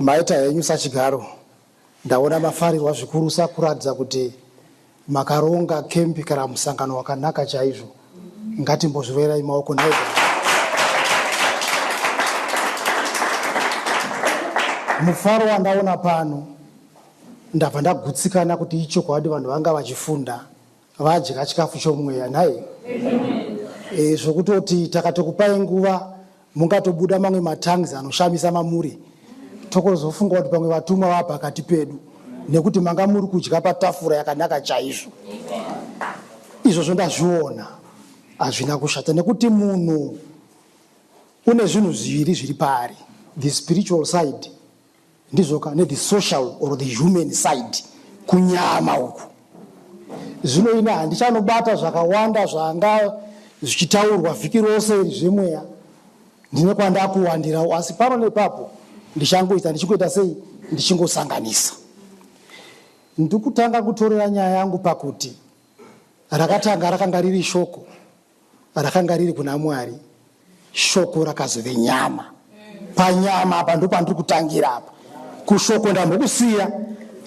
Maita henyu sachigaro. Ndaona mafarirwa zvikurusa kuratidza kuti makaronga kembi kana musangano wakanaka chaizvo. Ngatimbozviroverai maoko nhaigwa. Mufaro wandaona pano ndabva ndagutsikana kuti ichokwadi vanhu vanga vachifunda vadya chikafu chomweya nhai e, zvokutoti takatokupai nguva mungatobuda mamwe matangs anoshamisa mamuri tokozofunga kuti pamwe vatumwa vaa pakati pedu nekuti manga muri kudya patafura yakanaka chaizvo izvozvo ndazviona hazvina kushata nekuti munhu une zvinhu zviviri zviri paari the spiritual side Ndizvoka ne the social or the human side kunyama uku. Zvino ini handichanobata zvakawanda zvanga zvichitaurwa vhiki rose iri zvemweya. Ndine kwandakuwandirawo asi pano nepapo ndichangoita ndichingoita sei ndichingosanganisa. Ndikutanga kutorera nyaya yangu pakuti rakatanga rakanga riri shoko. rakanga riri kuna Mwari, shoko rakazove nyama. Panyama apa ndopandiri kutangira apa. Kushoko ndambokusiya,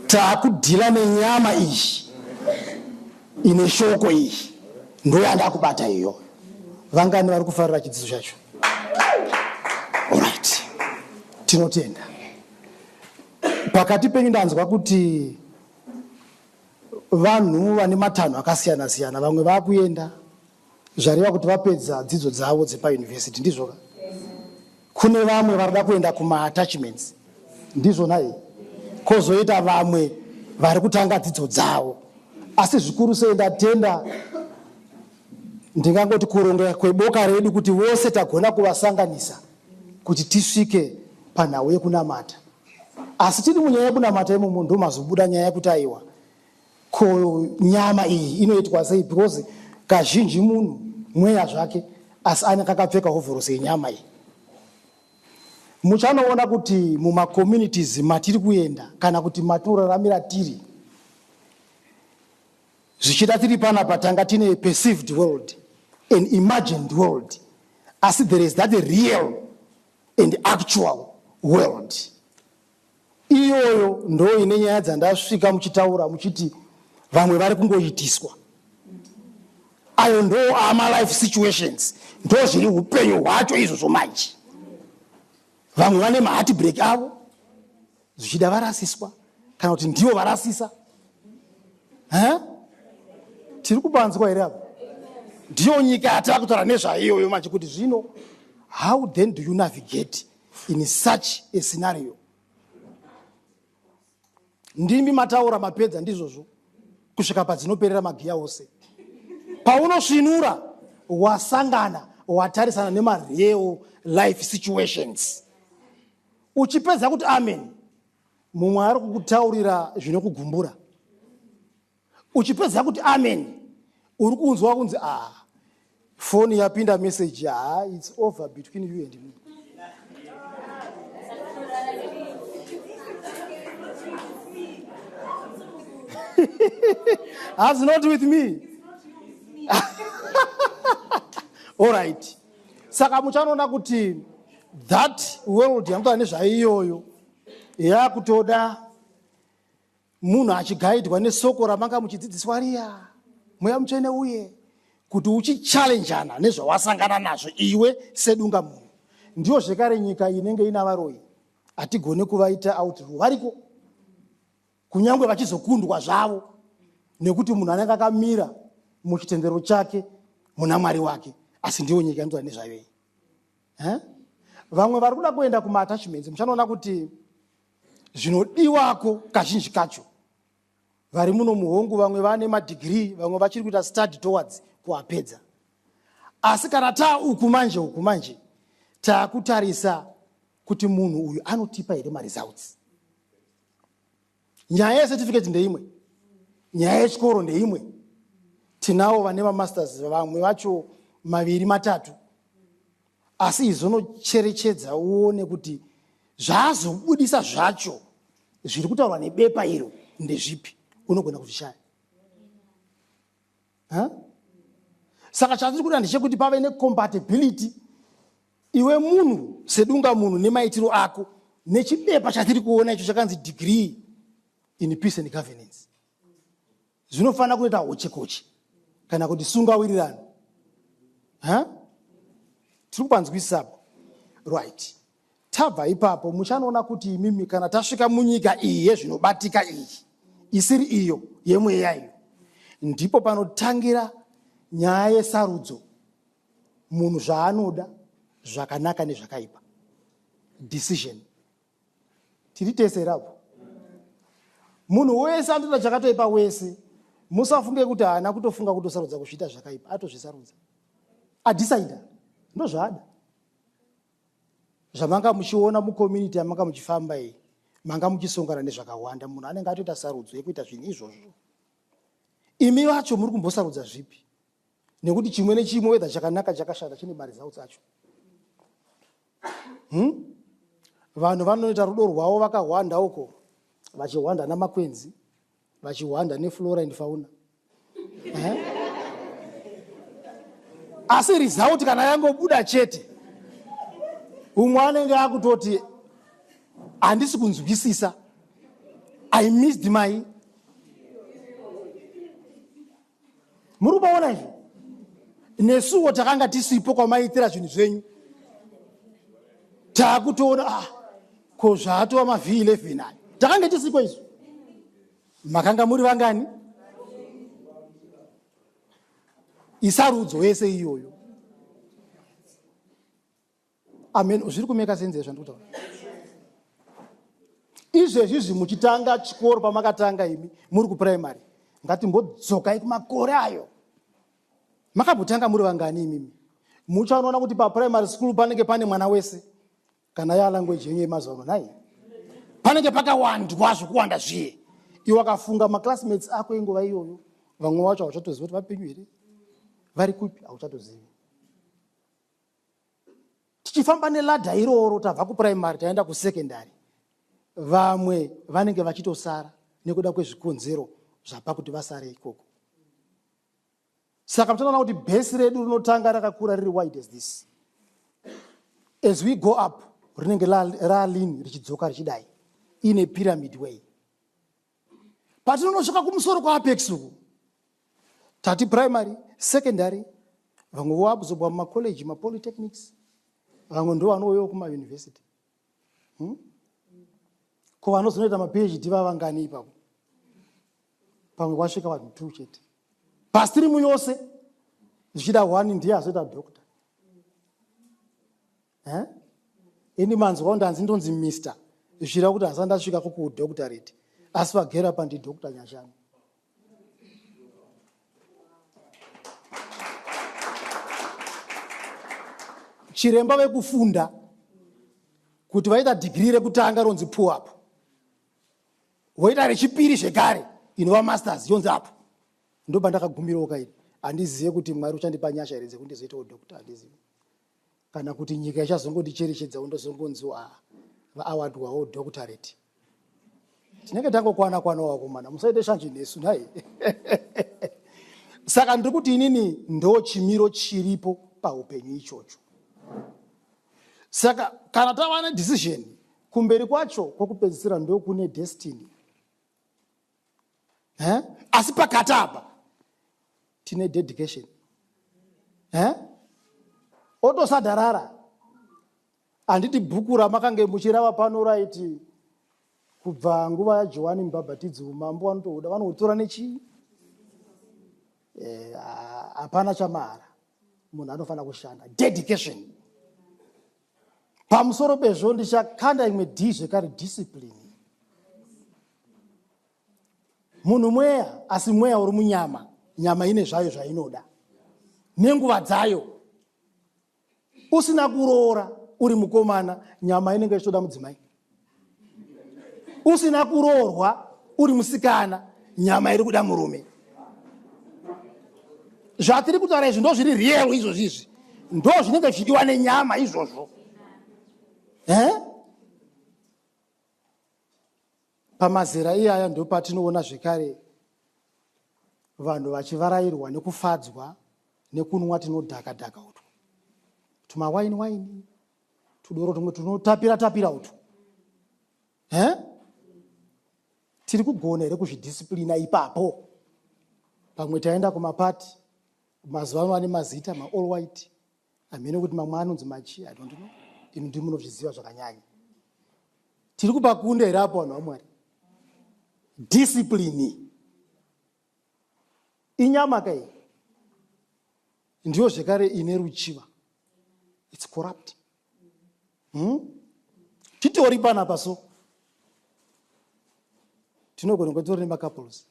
takudhila nenyama iyi ine shoko iyi, ndoyandakubata iyo. Vangani vari kufarira chidzidzo chacho? Alright, tinotenda. Pakati penyu ndanzwa kuti Vanhu vane matanho akasiyana siyana vamwe vakuenda zvareva kuti vapedza dzidzo dzavo dzepa university ndizvoka kune vamwe varida kuenda kuma attachments ndizvona here kozoita vamwe vari kutanga dzidzo dzavo asi zvikuru sei ndatenda ndingangoti kuronga kweboka redu kuti vose tagona kuvasanganisa kuti tisvike panhau yekunamata Asi tiri munyaya yekunamata imomo ndomazobuda nyaya yekuti aiwa ko nyama iyi inoitwa sei because kazhinji munhu mweya zvake asi ane kakapfeka hovhorosi yenyama iyi muchanoona kuti mumacommunities matiri kuenda kana kuti matinoraramira tiri zvichida tiri pana patanga tine perceived world an imagined world asi there is that real and actual world iyoyo ndo ine nyaya dzandasvika muchitaura muchiti vamwe vari kungoitiswa ayo ndo amalife situations ndo zviri upenyu hwacho izvozvo manje vamwe vane maheartbreak avo zvichida varasiswa kana kuti ndivo varasisa huh? tiri kubanzwa here apa ndiyo nyika yatava kutaura nezvaiyoyo manje kuti zvino how then do you navigate in such a scenario ndimi mataura mapedza ndizvozvo kusvika padzinoperera magiya ose paunosvinura wasangana watarisana nemareo life situations Uchipedza kuti amen, mumwe ari kukutaurira zvinokugumbura. Uchipedza kuti amen, uri kunzwa kunzi ah, foni yapinda message, ah, it's over between you and me. Has not with me. All right. saka muchanoona kuti that world yanotaa nezvaiyoyo yakutoda munhu achigaidwa nesoko ramanga muchidzidziswa riya mweya mutsvene uye kuti uchichallenjana nezvawasangana nazvo iwe sedunga munhu ndiyo zvekare nyika inenge ina varoyi hatigone kuvaita outru variko Kunyangwe vachizokundwa zvavo nekuti munhu anenge akamira muchitendero chake muna mwari wake asi ndiwo nyika inotaura nezvayo iyi eh? vamwe vari kuda kuenda kumaatachments muchanoona kuti zvinodiwako kazhinji kacho vari muno muhongu vamwe vane madhigirii vamwe vachiri kuita study towards kuapedza asi kana taa uku manje uku manje taakutarisa kuti munhu uyu anotipa here maresults nyaya yecertificate ndeimwe nyaya yechikoro ndeimwe tinawo vane vamasters vamwe vacho maviri matatu asi izonocherechedza uone kuti zvaazobudisa zvacho zviri kutaurwa nebepa iro ndezvipi unogona kuzvishaya huh? saka chatiri kuda ndechekuti pave necompatibility iwe munhu sedunga munhu nemaitiro ako nechibepa chatiri kuona icho chakanzi degree in peace and governance zvinofanira kunoita hochekoche kana kuti sungawirirano huh? tiri kupanzwisisapo right Tabva ipapo, muchanoona kuti imimi kana tasvika munyika iyi yezvinobatika iyi, isiri iyo yemweya iyo, ndipo panotangira nyaya yesarudzo, munhu zvaanoda, zvakanaka nezvakaipa, decision. Tiri tese here apo? Munhu wese anotoda chakatoipa wese. Musafunge kuti haana kutofunga kutosarudza kuzviita zvakaipa, atozvisarudza. Adecider, ndozvaada. zvamanga muchiona mucommunity yamanga muchifamba iyi manga muchisongana nezvakawanda munhu anenge atoita sarudzo yekuita zvinhu izvozvo imi vacho muri kumbosarudza zvipi nekuti chimwe nechimwe wedha chakanaka chakashata chine maresults acho hmm? vanhu vanoita rudo rwavo vakahwanda uko vachihwanda namakwenzi vachihwanda neflora and fauna eh? asi result kana yangobuda chete umwe anenge akutoti handisi kunzwisisa i missed my muri kubaona izvo nesuwo takanga tisipo kwamaiitira zvinhu zvenyu taakutoona ah, ko zvaatova mavh 11 ayo takange tisiko izvo makanga muri vangani isarudzo yese iyoyo amen zviri kumeka senze zvandiri kutaura izvezvi izvi muchitanga chikoro pamakatanga imi muri kupuraimary ngatimbodzokai kumakore ayo makambotanga muri vangani imimi muchanoona kuti papuraimary school panenge pane mwana wese kana ya language yenyu yemazuva ano nhai panenge pakawandwa zvokuwanda zviye iwe wakafunga maclassmates ako inguva iyoyo vamwe vacho hauchatozivi kuti vapenyu here vari kupi hauchatozivi tichifamba neladha iroro tabva kupuraimary taenda kusekendary vamwe vanenge vachitosara nekuda kwezvikonzero zvapa kuti vasare ikoko saka mutoona kuti bhesi redu rinotanga rakakura riri wide as this as we go up rinenge ralin richidzoka richidai ine pyramid way patinonosvika kumusoro kwaapex uku tati primary secondary vamwe voabzobwa mumacollege mapolytechnics vamwe ndo vanouyawo kumauniversity hmm? ko vanozonoita maphd vavangani ipapo pamwe kwasvika vanhu two chete pastirimu yose zvichida one ndiye azoita doctor eh? ini manzwawo ndanzi ndonzi mister zvira kuti hasa ndasvika kukudoctorate asi vagera pa ndidoctor nyashanu chiremba vekufunda kuti vaita dhigiri rekutanga ronzi pu apo voita rechipiri zvekare inova masters yonzi apo ndoba ndakagumirawo kaini handizive kuti mwari uchandipa nyasha here dzekundizoitawo doctor handizivi kana kuti nyika ichazongondicherechedzawo ndozongonziwo a ah, vaawadwawo doctorate tinenge tangokwana kwanawo vakomana musaite shanje nesu nhai saka ndiri kuti inini ndo chimiro chiripo paupenyu ichocho saka kana tava nedecision kumberi kwacho kwokupedzisira ndokune destiny eh? asi pakati apa tine dedication eh? otosadharara handiti bhuku ramakange muchirava pano raiti kubva nguva yajohani mubhabhatidzi umambo vanotohuda vanohutora nechii eh, hapana chamahara munhu anofanira kushanda dedication Pamusoro pezvo ndichakanda imwe D zvekare discipline. Munhu mweya asi mweya uri munyama, nyama ine zvayo zvainoda nenguva dzayo. Usina kuroora uri mukomana, nyama inenge ichitoda mudzimai. usina kuroorwa uri musikana nyama iri kuda murume zvatiri kutaura izvi ndo zviri real izvozvi izvi ndo zvinenge zvichidiwa nenyama izvozvo eh? pamazera iyaya ndo patinoona zvekare vanhu vachivarairwa nekufadzwa nekunwa tinodhakadhaka utwo tumawaini waini tudoro tumwe tunotapira tapira utu he tiri kugona here kuzvidhisiplina ipapo pamwe taenda kumapati mazuva ano ane mazita maall white hamene kuti mamwe anonzi machi i don't know imi ndi munozviziva zvakanyanya tiri kupa kunde here apo vanhu vamwari dhisiplini inyama ka iyi ndiyo zvekare ine ruchiva its corrupt hmm? titori panapa so tinogona kunge titori nemacouples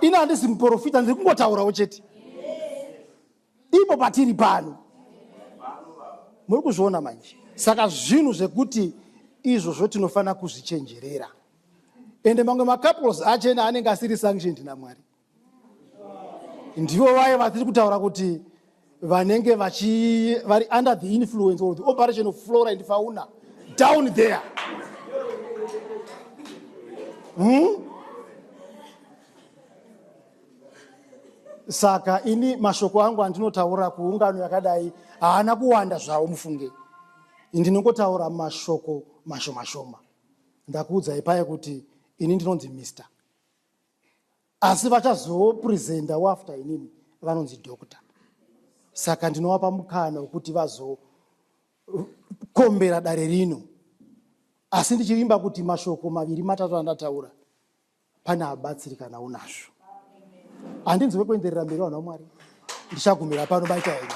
ini handisi muprofita ndiri kungotaurawo chete ipo patiri pano muri kuzviona manje saka zvinhu zvekuti izvozvo tinofanira kuzvichenjerera ende mamwe macouples achena anenge asiri sanctioned namwari ndivo vaye vatiri kutaura kuti vanenge vari under the influence or the operation of flora and fauna down there hmm? saka ini mashoko angu andinotaura kuungano yakadai haana kuwanda zvawo mufunge ndinongotaura mashoko mashoma shoma ndakuudzai paye kuti ini ndinonzi mister asi vachazopresenta wafter inini vanonzi doctor saka ndinovapa mukana wekuti vazokombera dare rino asi ndichivimba kuti mashoko maviri matatu andataura pane abatsiri kana unazvo handinzwe kuenderera mberi vanhu vamwari ndichagumira pano baita henyu